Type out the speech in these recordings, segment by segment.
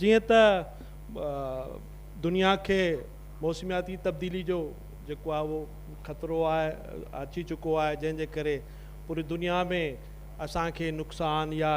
جيئن ته دنيا کي موسمياتي تبديلي جو جيڪو آهي اهو خطرو آهي اچي چڪو آهي جنهن جي ڪري پوري دنيا ۾ اسان کي نقصان يا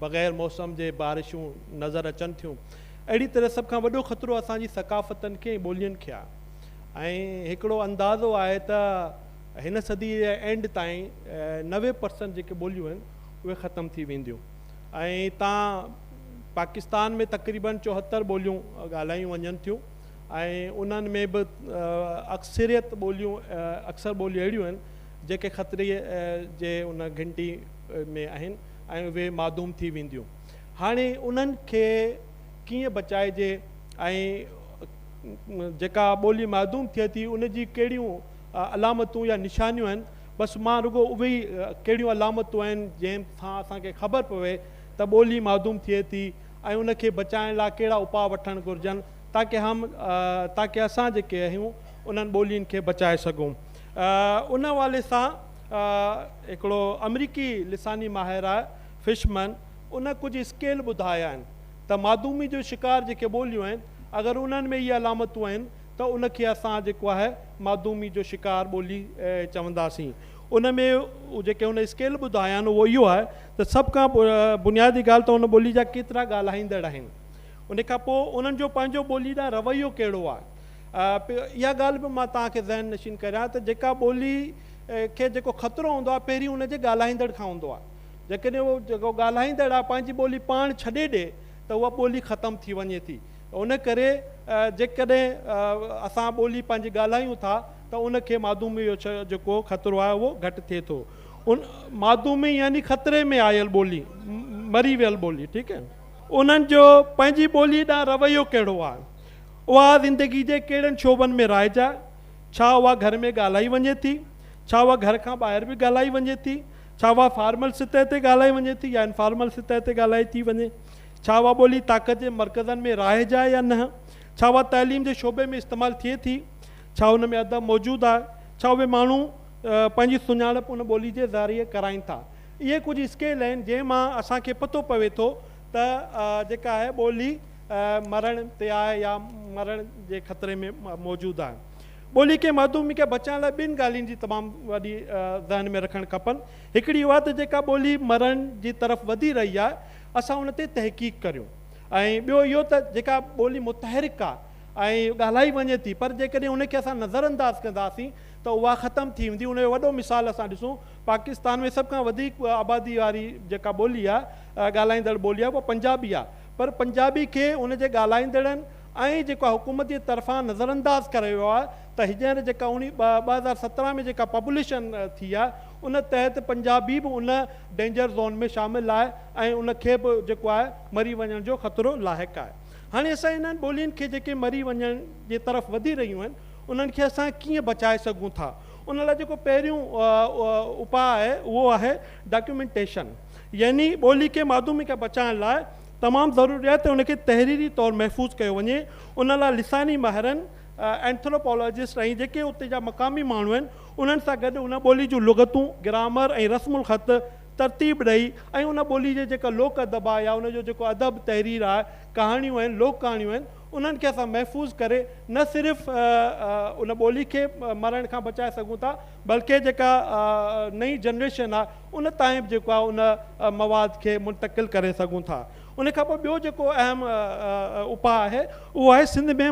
بغير موسم جي بارشون نظر اچن ٿيون اهڙي طرح سڀ کان وڏو خطرو اسان جي ثقافتن کي ۽ ٻولين کي آهي ۽ هڪڙو اندازو آهي ته هن صدي جي اينڊ تائين نوي پرسنٽ جيڪي ٻوليون آهن اهي ختم ٿي وينديون. ۽ اتان پاڪستان ۾ تقريبن چوهتر ٻوليون ڳالهايون وڃن ٿيون ۽ انهن ۾ به اڪثريت ٻوليون اڪثر ٻوليون اهڙيون آهن جيڪي خطري جي ان گهنٽي ۾ آهن ۽ اهي معدوم ٿي وينديون هاڻي انهن کي ڪيئن بچائجي ۽ جيڪا ٻولي معدوم ٿئي ٿي ان جي ڪهڙيون علامتون يا نشانيون آهن بس مان رڳو اهي ئي ڪهڙيون علامتون آهن جنهن سان اسان کي خبر پوي ته ٻولي معدوم ٿئي ٿي ۽ ان کي بچائڻ لاء ڪهڙا اپاء وٺڻ گهرجن تاڪه هم تاڪه اسان جيڪي آهيون انهن ٻولين کي بچائي سگهون ان حوالي سان هڪڙو آمريڪي لساني ماهر آهي فشمن ان ڪجهه اسڪيل ٻڌايا آهن ته معدومي جو شڪار جيڪي ٻوليون آهن اگر انهن ۾ اهي علامتون آهن ته ان کي اسان جيڪو آهي معدومي جو شڪار ٻولي چونداسين. ان ۾ جيڪي هن اسڪيل ٻڌايا آهن اهو اهو آهي ته سڀ کان بنيادي ڳالهه ته ان ٻولي جا ڪيترا ڳالهائيندڙ آهن. ان کان پوء انهن جو پنهنجو ٻولي ڏانهن رويو ڪهڙو آهي. اها ڳالهه به مان توهان کي ذهن نشين ڪريان ته جيڪا ٻولي کي جيڪو خطرو هوندو آهي پهرين ان جي ڳالهائيندڙ کان هوندو آهي. جيڪڏهن اهو جيڪو ڳالهائيندڙ آهي پنهنجي ٻولي پاڻ ڇڏي ڏي ته اها ٻولي ختم ٿي وڃي ٿي. ان ڪري جيڪڏهن اسان ٻولي پنهنجي ڳالهايون ٿا ته ان کي معدومي جو جيڪو خطرو آهي اهو گهٽ ٿئي ٿو. ان معدومي يعني خطري ۾ آيل ٻولي، مري ويل ٻولي ٺيڪ آهي. انهن جو پنهنجي ٻولي ڏانهن رويو ڪهڙو آهي؟ اها زندگي جي ڪهڙن شعبن ۾ رائج آهي؟ ڇا اها گهر ۾ ڳالهائي وڃي ٿي؟ ڇا اها گهر کان ٻاهر به ڳالهائي وڃي ٿي؟ ڇا اها فارمل سطح تي ڳالهائي وڃي ٿي يا انفارمل سطح تي ڳالهائي ٿي وڃي؟ ڇا اها ٻولي طاقت جي مرڪزن ۾ رائج آهي يا نه؟ ڇا اها تعليم جي شعبي ۾ استعمال ٿئي ٿي؟ ڇا ان ۾ ادب موجود آهي؟ ڇا اهي ماڻهو پنهنجي سڃاڻپ ان ٻولي جي ذريعي ڪرائين ٿا؟ اهي ڪجهه اسڪيل آهن جنهن مان اسان کي پتو پوي ٿو ته جيڪا اهي ٻولي مرڻ تي آهي يا مرڻ جي خطري ۾ موجود آهي. ٻولي کي محدومي کان بچائڻ لاء ٻن ڳالهين جي تمام وڏي ذهن ۾ رکڻ کپن. هڪڙي اها ته جيڪا ٻولي مرڻ جي طرف وڌي رهي آهي اسان ان تي تحقيق ڪريون ۽ ٻيو اهو ته جيڪا ٻولي متحرڪ آهي ۽ ڳالهائي وڃي ٿي پر جيڪڏهن ان کي اسان نظر انداز ڪنداسين ته اها ختم ٿي ويندي ان جو وڏو مثال اسان ڏسون پاڪستان ۾ سڀ کان وڌيڪ آبادي واري جيڪا ٻولي آهي ڳالهائيندڙ ٻولي آهي اها پنجابي آهي پر پنجابي کي ان جي ڳالهائيندڙن ۽ جيڪو آهي حڪومت جي طرفان نظر انداز ڪريو ويو آهي ته هينئر جيڪا اوڻي ٻه هزار سترهن ۾ جيڪا پبلشن ٿي آهي ان تحت پنجابي به ان ڊينجر زون ۾ شامل آهي ۽ ان کي به جيڪو آهي مري وڃڻ جو خطرو لاحق آهي. هاڻي اسان انهن ٻولين کي جيڪي مري وڃڻ جي طرف وڌي رهيون آهن انهن کي اسان ڪيئن بچائي سگهون ٿا ان لاء جيڪو پهريون اپاء آهي اهو آهي ڊاڪيومينٽيشن يعني ٻولي کي ماڌومي کان بچائڻ لاء تمام ضروري آهي ته ان کي تحريري طور محفوظ ڪيو وڃي ان لاء لساني ماهرن اينٿروپالاجسٽ ۽ جيڪي اتي جا مقامي ماڻهو آهن انهن سان گڏ ان ٻولي جون لغتون، گرامر ۽ رسم الخط ترتيب ڏئي ۽ ان ٻولي جي جيڪا لوڪ ادب آهي يا ان جو جيڪو ادب، تحرير آهي، ڪهاڻيون آهن، لوڪ ڪهاڻيون آهن، انهن کي اسان محفوظ ڪري نه صرف ان ٻولي کي مرڻ کان بچائي سگهون ٿا بلڪه جيڪا نئين جنريشن آهي ان تائين به جيڪو آهي ان مواد کي منتقل ڪري سگهون ٿا. ان کان پوء ٻيو جيڪو اهم اپاء آهي اهو آهي سنڌ ۾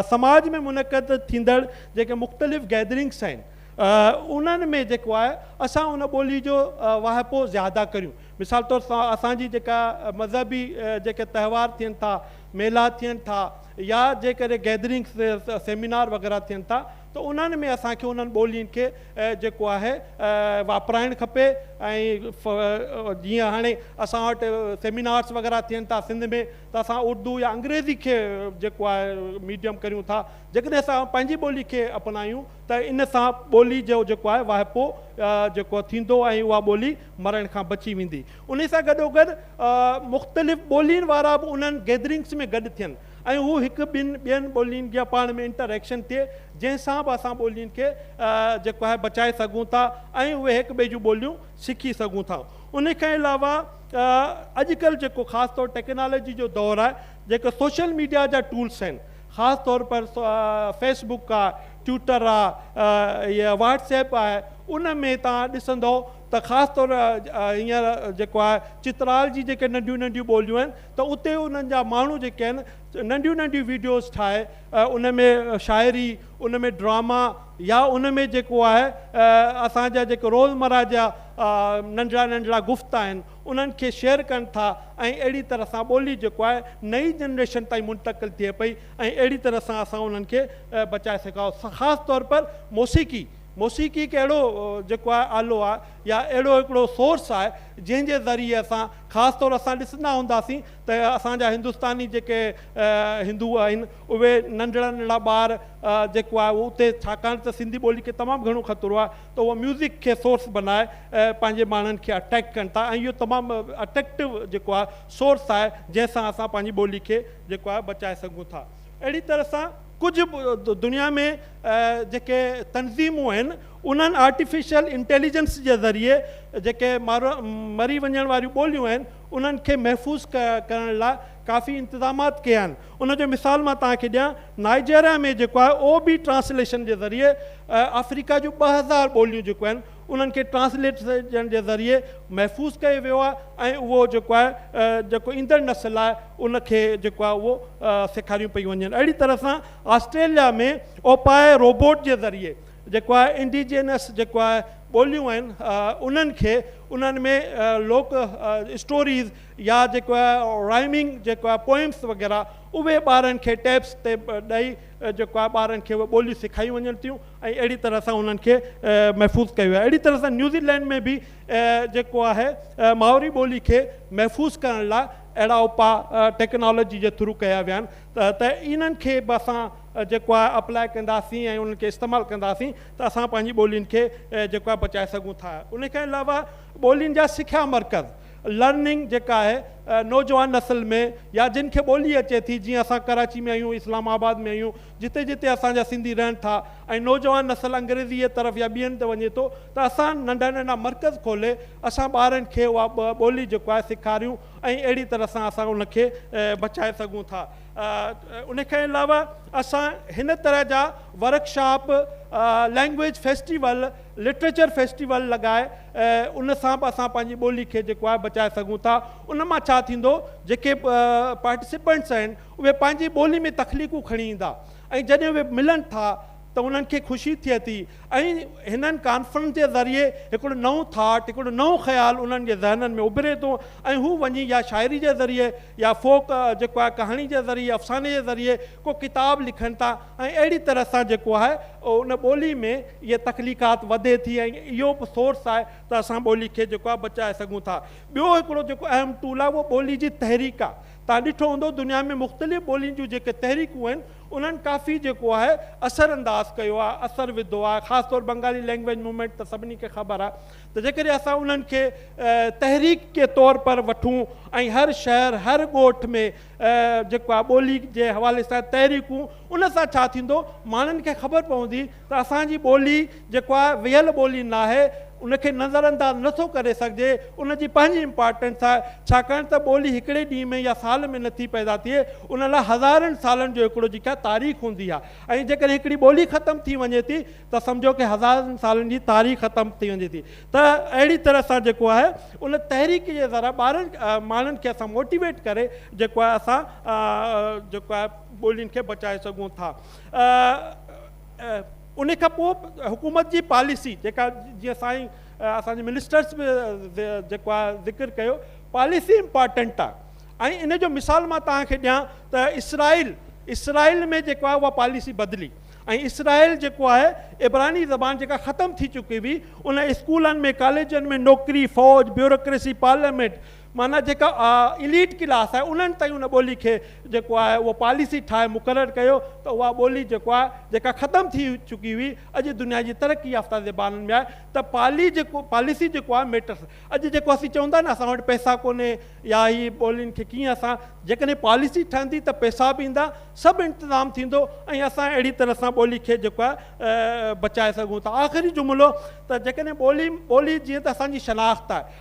سماج ۾ منعقد ٿيندڙ جيڪي مختلف گيدرنگس آهن انهن ۾ جيڪو آهي اسان ان ٻولي جو واهپو زياده ڪريون مثال طور اسان جي جيڪا مذهبي جيڪي تهوار ٿين ٿا ميلا ٿين ٿا يا جيڪڏهن گيدرنگس سيمينار وغيره ٿين ٿا ته انهن ۾ اسان کي انهن ٻولين کي جيڪو آهي واپرائڻ کپي ۽ جيئن هاڻي اسان وٽ سيمينارس وغيره ٿين ٿا سنڌ ۾ ته اسان اردو يا انگريزي کي جيڪو آهي ميڊيم ڪريون ٿا جيڪڏهن اسان پنهنجي ٻولي کي اپنايون ته ان سان ٻولي جو جيڪو آهي واهپو جيڪو ٿيندو ۽ اها ٻولي مرڻ کان بچي ويندي انهي سان گڏوگڏ مختلف ٻولين وارا به انهن گيدرنگس ۾ گڏ ٿين ۽ هو هڪ ٻن ٻين ٻولين جا پاڻ ۾ انٽر ايڪشن ٿئي جنهن سان به اسان ٻولين کي جيڪو آهي بچائي سگهون ٿا ۽ اهي هڪ ٻئي جون ٻوليون سکي سگهون ٿا ان کان علاوه اڄ ڪلهه جيڪو خاص طور ٽيڪنالاجي جو دور آهي جيڪو سوشل ميڊيا جا ٽولس آهن خاص طور پر فيس بڪ آهي ٽوئٽر آهي واٽس ايپ آهي ان ۾ تان ڏسندو ته خاص طور هينئر جيڪو آهي چترال جي جيڪي ننڍيون ننڍيون ٻوليون آهن ته اتي انهن جا ماڻهو جيڪي آهن ننڍيون ننڍيون ويڊيوز ٺاهي ان ۾ شاعري ان ۾ ڊراما يا ان ۾ جيڪو آهي اسان جا جيڪي روزمره جا ننڍڙا ننڍڙا گفت آهن انهن کي شيئر ڪن ٿا ۽ اهڙي طرح سان ٻولي جيڪو آهي نئي جنريشن تائين منتقل ٿئي پئي ۽ اهڙي طرح سان اسان انهن کي بچائي سگهاو خاص طور پر موسيقي موسيقي هڪ اهڙو جيڪو آهي آلو آهي يا اهڙو هڪڙو سورس آهي جنهن جي ذريعي اسان خاص طور اسان ڏسندا هونداسين ته اسان جا هندستاني جيڪي هندو آهن اهي ننڍڙا ننڍڙا ٻار جيڪو آهي اهو اتي ڇاڪاڻ ته سنڌي ٻولي کي تمام گهڻو خطرو آهي ته اهو ميوزڪ کي سورس بنائي پنهنجي ماڻهن کي اٽريڪٽ ڪن ٿا ۽ اهو تمام اٽريڪٽو جيڪو آهي سورس آهي جنهن سان اسان پنهنجي ٻولي کي جيڪو آهي بچائي سگهون ٿا اهڙي طرح سان ڪجهه دنيا ۾ جيڪي تنظيمون آهن انهن آرٽيفيشل انٽيليجنس جي ذريعي جيڪي مري وڃڻ واريون ٻوليون آهن انهن کي محفوظ ڪرڻ لاء ڪافي انتظامات ڪيا آهن ان جو مثال مان توهان کي ڏيان نائجيريا ۾ جيڪو آهي او بي ٽرانسليشن جي ذريعي آفريڪا جون ٻه هزار ٻوليون جيڪو آهن انهن کي ٽرانسليٽرن جي ذريعي محفوظ ڪيو ويو آهي ۽ اهو جيڪو آهي جيڪو ايندڙ نسل آهي ان کي جيڪو آهي اهو سيکاريون پيون وڃن اهڙي طرح سان آسٽريليا ۾ اوپائي روبوٽ جي ذريعي جيڪو آهي انڊيجينس جيڪو آهي ٻوليون آهن انهن کي انهن ۾ لوڪ اسٽوريز يا جيڪو آهي رائمنگ جيڪو آهي پوئمس وغيره اهي ٻارن کي ٽيپس تي ڏئي جيڪو آهي ٻارن کي اهي ٻوليون سيکايون وڃن ٿيون ۽ اهڙي طرح سان انهن کي محفوظ ڪيو ويو آهي. اهڙي طرح سان نيوزي لينڊ ۾ به جيڪو آهي مائوري ٻولي کي محفوظ ڪرڻ لاء اهڙا اپاء ٽيڪنالاجي جي ٿرو ڪيا ويا آهن ته انهن کي به اسان جيڪو آهي اپلاء ڪنداسين ۽ انهن کي استعمال ڪنداسين ته اسان پنهنجي ٻولين کي جيڪو آهي بچائي سگهون ٿا. ان کان علاوه ٻولين جا سکيا مرڪز Learning جيڪا آهي نوجوان نسل ۾ يا جن کي ٻولي اچي ٿي جيئن اسان ڪراچي ۾ آهيون اسلام آباد ۾ آهيون جتي جتي اسان جا سنڌي رهن ٿا ۽ نوجوان نسل انگريزيء طرف يا ٻين تي وڃي ٿو ته اسان ننڍا ننڍا مرڪز کولي اسان ٻارن کي اها ٻولي جيڪو آهي سيکاريون ۽ اهڙي طرح سان اسان ان کي بچائي سگهون ٿا ان کان علاوه اسان هن طرح جا workshop language festival literature festival لڳائي ان سان به اسان پنهنجي ٻولي کي جيڪو آهي بچائي سگهون ٿا ان مان ڇا ٿيندو جيڪي پارٽيسپينٽس آهن اهي پنهنجي ٻولي ۾ تخليقون کڻي ايندا ۽ جڏهن اهي ملن ٿا ته انهن کي خوشي ٿئي ٿي ۽ هنن ڪانفرنس جي ذريعي هڪڙو نئون ٿاٽ هڪڙو نئون خيال انهن جي ذهنن ۾ اڀري ٿو ۽ هو وڃي يا شاعري جي ذريعي يا فوڪ جيڪو آهي ڪهاڻي جي ذريعي افساني جي ذريعي ڪو ڪتاب لکن ٿا ۽ اهڙي طرح سان جيڪو آهي ان ٻولي ۾ اهي تخليقات وڌي ٿي ۽ اهو به سورس آهي ته اسان ٻولي کي جيڪو آهي بچائي سگهون ٿا ٻيو هڪڙو جيڪو اهم ٽول آهي اهو ٻولي جي تحريڪ آهي توهان ڏٺو هوندو دنيا ۾ مختلف ٻولين جون جيڪي تحريڪون آهن انهن ڪافي جيڪو آهي اثر انداز ڪيو آهي اثر وڌو آهي خاص طور بنگالي لينگويج مومينٽ ته سڀني کي خبر آهي ته جيڪڏهن اسان انهن کي تحريڪ جي طور پر وٺون ۽ هر شهر هر ڳوٺ ۾ جيڪو آهي ٻولي جي حوالي سان تحريڪون ان سان ڇا ٿيندو ماڻهن کي خبر پوندي ته اسان جي ٻولي جيڪو آهي ويهل ٻولي ناهي ان کي نظر انداز نه ٿو ڪري سگهجي ان جي پنهنجي امپارٽنس آهي ڇاڪاڻ ته ٻولي هڪڙي ڏينهن ۾ يا سال ۾ نه ٿي پيدا ٿئي ان لاء هزارن سالن جو هڪڙو جيڪا آهي تاريخ هوندي آهي ۽ جيڪڏهن هڪڙي ٻولي ختم ٿي وڃي ٿي ته سمجهو ڪي هزارن سالن جي تاريخ ختم ٿي وڃي ٿي ته اهڙي طرح سان جيڪو آهي ان تحريڪ جي ذرا ٻارن ماڻهن کي اسان موٽيويٽ ڪري جيڪو آهي اسان جيڪو آهي ٻولين کي بچائي سگهون ٿا. ان کان پوء حڪومت جي پاليسي جيڪا جيئن سائين اسان جي منسٽرس به جيڪو آهي ذڪر ڪيو پاليسي امپارٽنٽ آهي ۽ ان جو مثال مان توهان کي ڏيان ته اسرائيل اسرائيل ۾ جيڪو آهي اها پاليسي بدلي ۽ اسرائيل جيڪو آهي ابراني زبان جيڪا ختم ٿي چڪي هئي ان اسڪولن ۾ ڪاليجن ۾ نوڪري فوج بيوروڪريسي پارليامينٽ معنيٰ جيڪا اليٽ ڪلاس آهي انهن تائين ان ٻولي کي جيڪو آهي اهو پاليسي ٺاهي مقرر ڪيو ته اها ٻولي جيڪو آهي جيڪا ختم ٿي چڪي هئي اڄ دنيا جي ترقي يافته زبانن ۾ آهي ته پالي جيڪو پاليسي جيڪو آهي ميٽرس اڄ جيڪو اسين چئون ٿا نه اسان وٽ پئسا ڪونهي يا هي ٻولين کي ڪيئن اسان جيڪڏهن پاليسي ٺهندي ته پئسا به ايندا سڀ انتظام ٿيندو ۽ اسان اهڙي طرح سان ٻولي کي جيڪو آهي بچائي سگهون ٿا آخري جملو ته جيڪڏهن ٻولي ٻولي جيئن ته اسان جي شناخت آهي